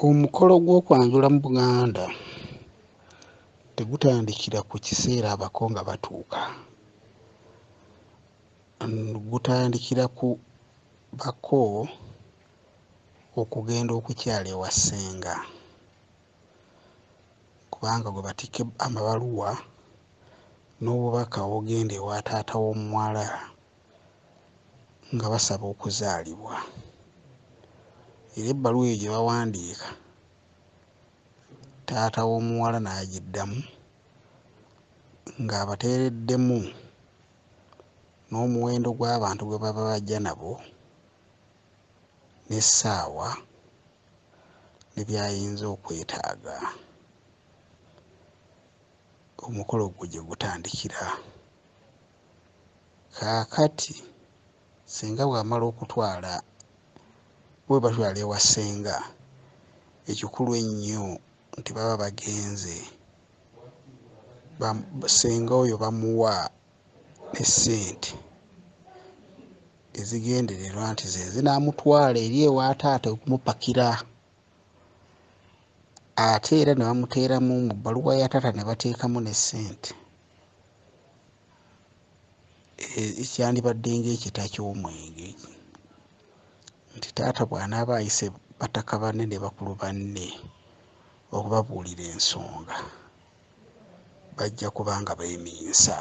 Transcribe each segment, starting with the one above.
Omukolo gw'okwanjula mu Buganda tegutandikira ku kiseera abako nga batuuka. Gutandikira ku bako okugenda okukyala ewa ssenga kubanga gwe batikka amabaluwa n'obubaka obugenda ewa taata w'omuwala. nga basaba okuzaalibwa era ebbaluwa eyo gye bawandiika taata w'omuwala n'agiddamu ng'abateereddemu n'omuwendo gw'abantu gwe baba bajja nabo n'essaawa ne by'ayinza okwetaaga omukolo gwo gye gutandikira. Kaakati ssenga bw'amala okutwala bwe batwala ewa ssenga, ekikulu ennyo nti baba bagenze ba ssenga oyo bamuwa ne ssente ezigendererwa nti ze zinaamutwala eri ewa taata okumupakira. ate era ne bamuteeramu mu bbaluwa ya taata ne bateekamu ne ssente ekyandibadde e, ng'ekita ky'omwenge nti taata bw'anaaba ayise bataka banne ne bakulu banne okubabuulira ensonga bajja kuba nga beeminsa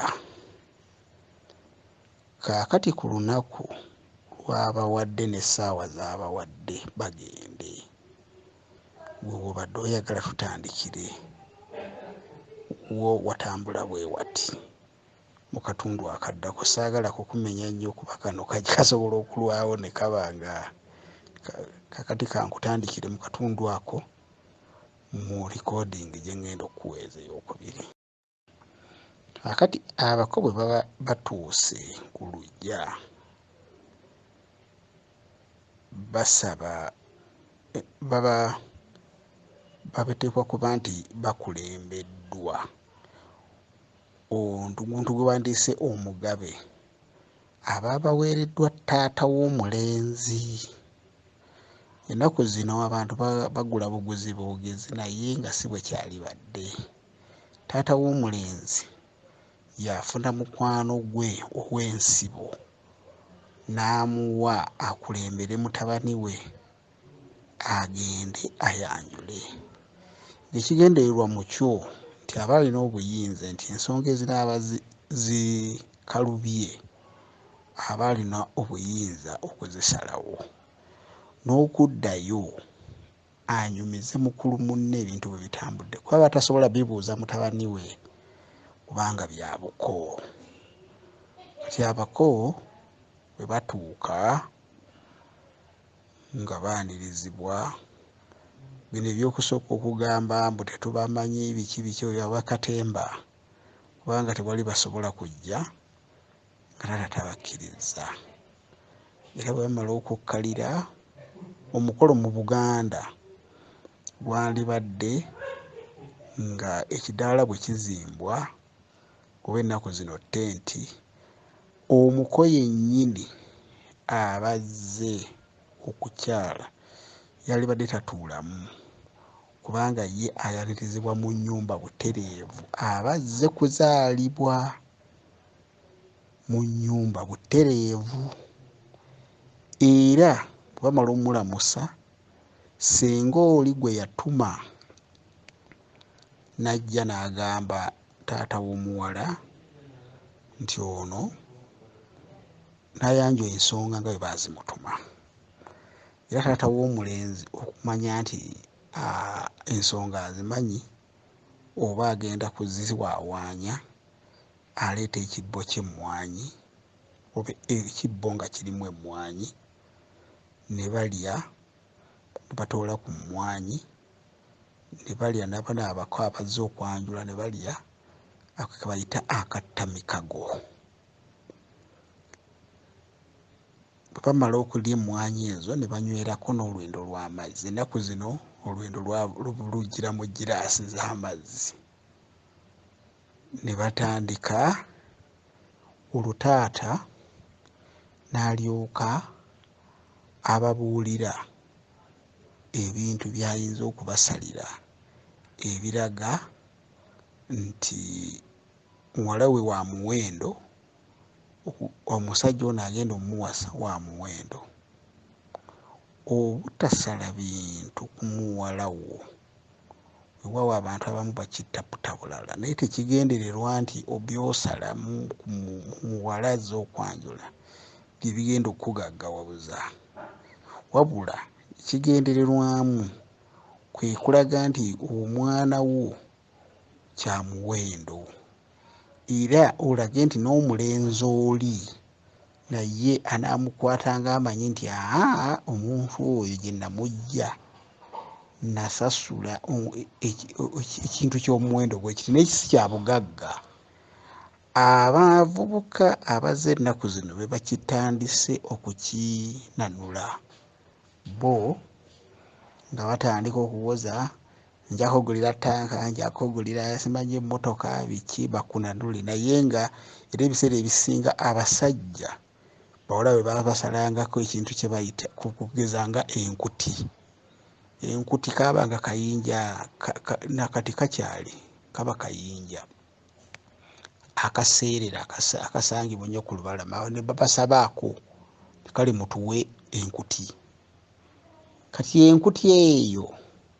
Kaakati ku lunaku lw'abawadde n'essaawa z'abawadde bagende. Ggwe bw'obadde oyagala tutandikire wo watambula bwe wati mu katundu akaddako. Ssaagala kukumenya nnyo kuba kano kasobola okulwawo ne kaba nga kaakati kankutandikire mu katundu ako mu likoodingi gye ŋŋenda okukuweeza eyookubiri. akati abako bwe baba batuuse ku lujja basaba baba babateekwa kuba nti bakulembeddwa omuntu gwe bandiise omugabe aba baweereddwa taata w'omulenzi ennaku zino abantu bagula buguzi boogezi naye nga si bwe kyalibadde taata w'omulenzi yafuna mukwano gwe ow'ensibo n'amuwa akulembere mutabani we agende ayanjule ng'ekigendererwa mu kyo nti aba alina obuyinza nti ensonga ezinaaba zikalubye aba alina obuyinza okuzisalawo n'okuddayo anyumize mukulu munne ebintu bwe bitambudde kuba batasobola bibuuza mutabani we kubanga byabuko kati abako bwe batuuka nga baanirizibwa bino ebyokusooka okugamba mbu tetubamanyi biki biki oyo abakatemba kubanga tewali basobola kujja kataata tabakkirizza era bwe bamala okukkalira omukolo mu buganda gwandibadde nga ekidaala bwe kizimbwa oba ennaku zino tenti omuko yennyini abazze okukyala yalibadde tatuulamu kubanga ye ayanirizibwa mu nnyumba butereevu aba azze kuzaalibwa. mu nnyumba butereevu era bwe bamala omulamusa ssenga oli gwe yatuma n'ajja n'agamba taata w'omuwala nti ono n'ayanjwa ensonga nga bwe baazimutuma era taata w'omulenzi okumanya nti ensonga azimanyi oba agenda kuziwawaanya aleeta ekibbo ky'emmwanyi oba ekibbo nga kirimu emmwanyi ne balya ne batoola ku mmwanyi ne balya n'abana abako abazze okwanjula ne balya ako ke bayita akattamikago bwe bamala okulya emmwanyi ezo ne banywerako n'olwendo lw'amazzi ennaku zino olwendo lujjira mu giraasi z'amazzi ne batandika olwo taata n'alyoka ababuulira ebintu by'ayinza okubasalira ebiraga nti muwala we wa muwendo omusajja ono agenda omuwasa wa muwendo obutasala bintu kumuwala wo wewawo abantu abamu bakitaputa bulala naye tekigendererwa nti obyosala muwala aza okwanjula byebigenda okukugaggawabuza wabula ekigendererwamu kwekulaga nti omwana wo kyamuwendo era olage nti n'omulenzi oli naye anaamukwata ng'amanyi nti aa omuntu oyo gye namujja nasasula ekintu ky'omuwendo gwekiti naye kisi kya bugagga abavubuka abaze ennaku zino be bakitandise okukinanula bo nga batandika okuwoza nja kugulira tanka nja kugulira simanyi emmotoka biki bakunanule naye nga era ebiseera ebisinga abasajja bawala bwe baba basalangako ekintu kye bayita kugeza nga enkuti enkuti kaaba nga kayinja nakati kakyali kaba kayinja akaseerera akasangibwa ennyo ku lubalama ne babasabaako kale mutuwe enkuti kati enkuti eyo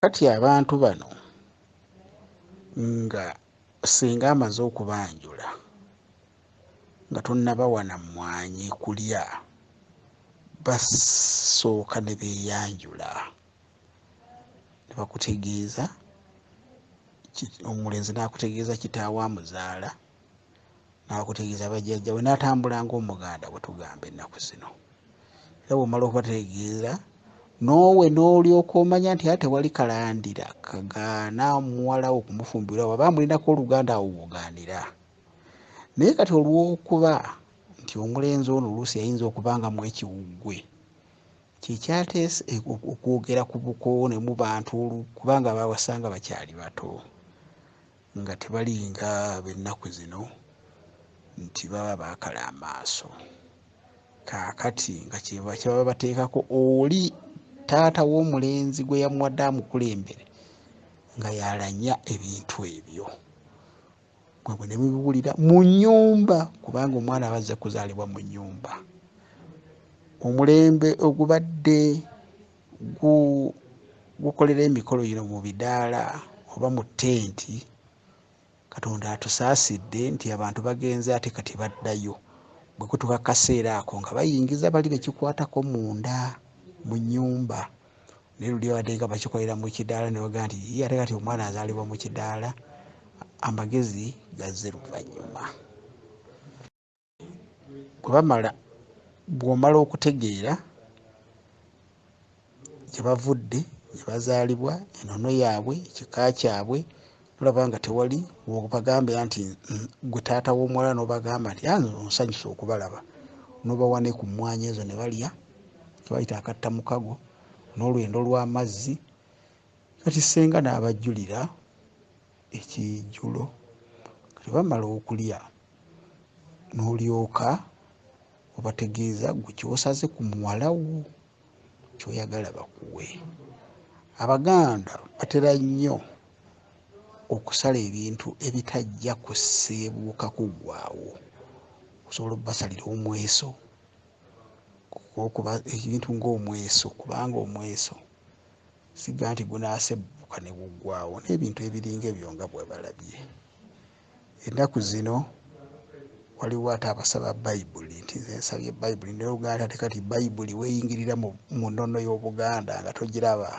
kati abantu bano nga singa amaze okubanjula nga tonabawana mwanyi kulya basooka ne beyanjula ne bakutegeeza omulenzi n'akutegeeza kitaawo amuzaala. n'akutegeeza bajjajjawe n'atambula ng'omuganda bwe tugamba ennaku zino era bw'omala okubategeeza noowe n'olyoka omanya nti ate wali kalandira kagaana omuwalawo okumufumbirwa waba amulinako oluganda awo wogaanira naye kati olw'okuba nti omulenzi ono oluusi yayinza okuba nga mu ekiwuggwe kyekyateesa e, okwogera ku bukoowo ne mu bantu kubanga baawasanga bakyali bato nga tebalinga ab'ennaku zino nti baba baakala amaaso kaakati nga kyeba kyebaba bateekako oli taata w'omulenzi gwe yamuwadde amukulembere nga yalanya ebintu ebyo mwebwe ne mubiwulira mu nnyumba kubanga omwana aba azze kuzaalibwa mu nnyumba omulembe ogubadde gukolera emikolo gino mu bidaala oba mu tenti katonda atusaasidde nti abantu bagenze ate kati baddayo bwe kutuka kaseera ako nga bayingiza bali bekikwatako munda mu nyumba naye luli abadde nga bakikolera mu kidaala nebaga nti ye ate kati omwana azaalibwa mu kidaala amagezi gazze luvannyuma bwe bamala bw'omala okutegeera gye bavudde gye bazaalibwa enono yaabwe ekika kyabwe olaba nga tewali wobagambira nti gwe taata w'omuwala n'obagamba nti anze ah, onsanyusa okubalaba n'obawa ne ku mmwanyi ezo ne balya kebayita akatta mukago n'olwendo lw'amazzi kati ssenga n'abajjulira ekijjulo kati bamala okulya n'olyoka obategeeza gwe kyosaze ku muwala wo kyoyagala bakuwe abaganda batera nnyo okusala ebintu ebitajja kuseebuuka kuggwawo osobola okubasalira omweso okuba ebintu ngaomweso kubanga omweso siga nti gunaasebuuka ne guggwawo n'ebintu ebiringa ebyo nga bwebalabye ennaku zino waliwo ate abasaba bayibuli nti nze nsabye bayibuli naye oluganda ate kati bayibuli weeyingirira mu nnono y'obuganda nga togiraba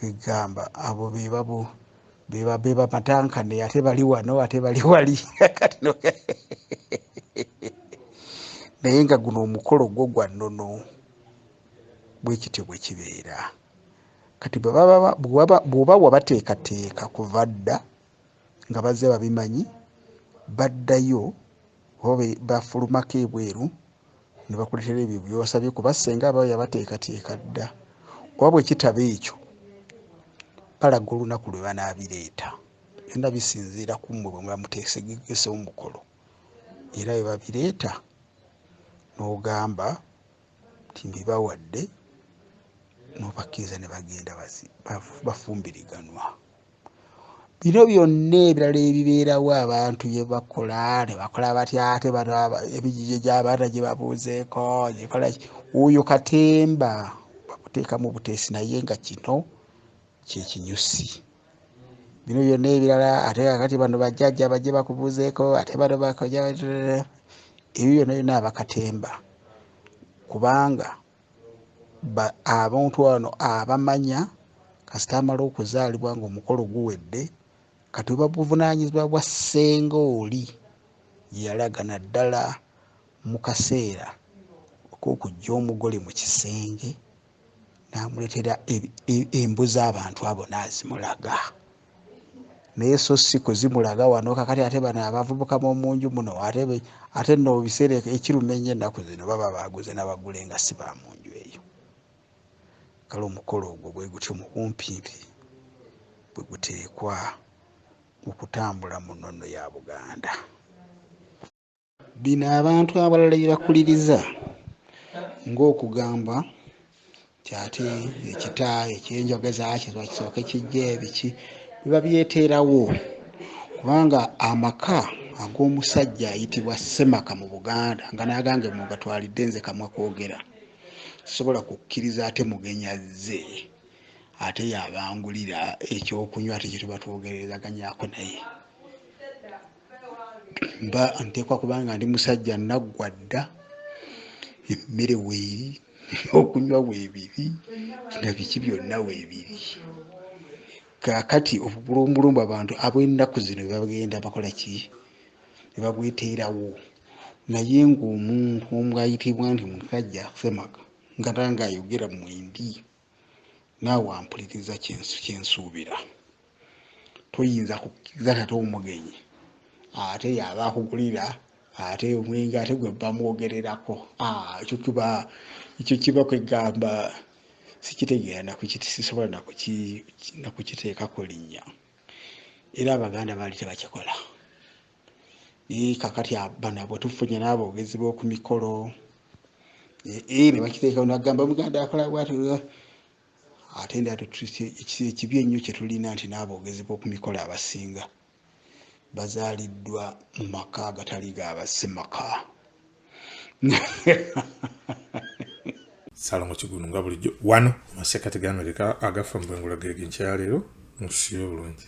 egamba abo bebabo bebamatankane ate bali wano ate bali wali naye nga guno omukolo gwo gwa nnono bwe kityo bwe kibeera kati bw'oba wabateekateeka kuva dda nga bazze babimanyi baddayo oba bafulumako ebweru ne bakuletera ebyo byosabye kuba ssenga aba yabateekateeka dda oba bwe kitaba ekyo balaga olunaku lwe banaabireeta byonna bisinziira ku mmwe bwe muba muteesegegese omukolo era bwe babireeta n'ogamba nti mbibawadde nobakkiriza ne bagenda bafumbiriganwa bino byonna ebirala ebibeerawo abantu byebakola nebakola batya ate ebijijo gyabaana gyebabuuzeeko gyekola oyo katemba bakuteekamu buteesi naye nga kino kyekinyusi bino byonna ebirala ate kakati bano bajjajja bajje bakubuuzeeko ate bano bakoja ebyo byonna byonna abakatemba kubanga abantu ano abamanya kasita amala okuzaalibwa nga omukolo guwedde kati oba buvunanyizibwa bwa ssenga oli yalaga naddala mu kaseera okokujja omugole mu kisenge namuletera embu z'abantu abo nazimulaga naye so si kuzimulaga wano kakati ate bano abavubuka bomunju muno ate no biseera ekiruma enyo ennaku zino baba baguze nabagule nga si ba munju eyo kale omukolo ogwo bwe gutyo mu bumpimpi bwe guteekwa okutambula mu nnono ya buganda Bino abantu abalala bye bakuliriza ng'okugamba nti ate ekita ekyenjogeza kiba kisooke kijja ebiki biba byeteerawo kubanga amaka ag'omusajja ayitibwa ssemaka mu buganda nga n'agange mu gatwalidde nze kamwa kwogera sisobola kukkiriza ate mugenya zze ate yabangulira ekyokunywa ate kyetuba twogerezaganyako naye mba nteekwa kubanga ndi musajja naggwa dda emmere weeri okunywa weebiri na biki byonna weebiri kakati obulumbulumbu abantu ab'ennaku zino bebagenda bakola ki ne babweteerawo naye ng'omuntu omu ayitibwa nti musajja semaga nga tange ayogera mwembi naawe ampuliriza kyensuubira toyinza kukkiriza tata omugenyi ate yaba akugulira ate omwenge ate gwe bamwogererako ah, ekyo kiba ekyo kiba kwegamba sikitegeera sisobola nakukiteekako linnya era abaganda baali tebakikola kakati bano abwetufunye n'aboogezi b'oku mikolo ne bakiteekawo nagamba omuganda akola bwati ate nda ekibi ennyo kyetulina nti n'aboogezi b'oku mikolo abasinga bazaaliddwa mu maka agatali gaabasemaka salomo kigunu nga bulijjo wano amasekati ga amerika agafa mu bwengula gege nkyaleero mutusibe bulungi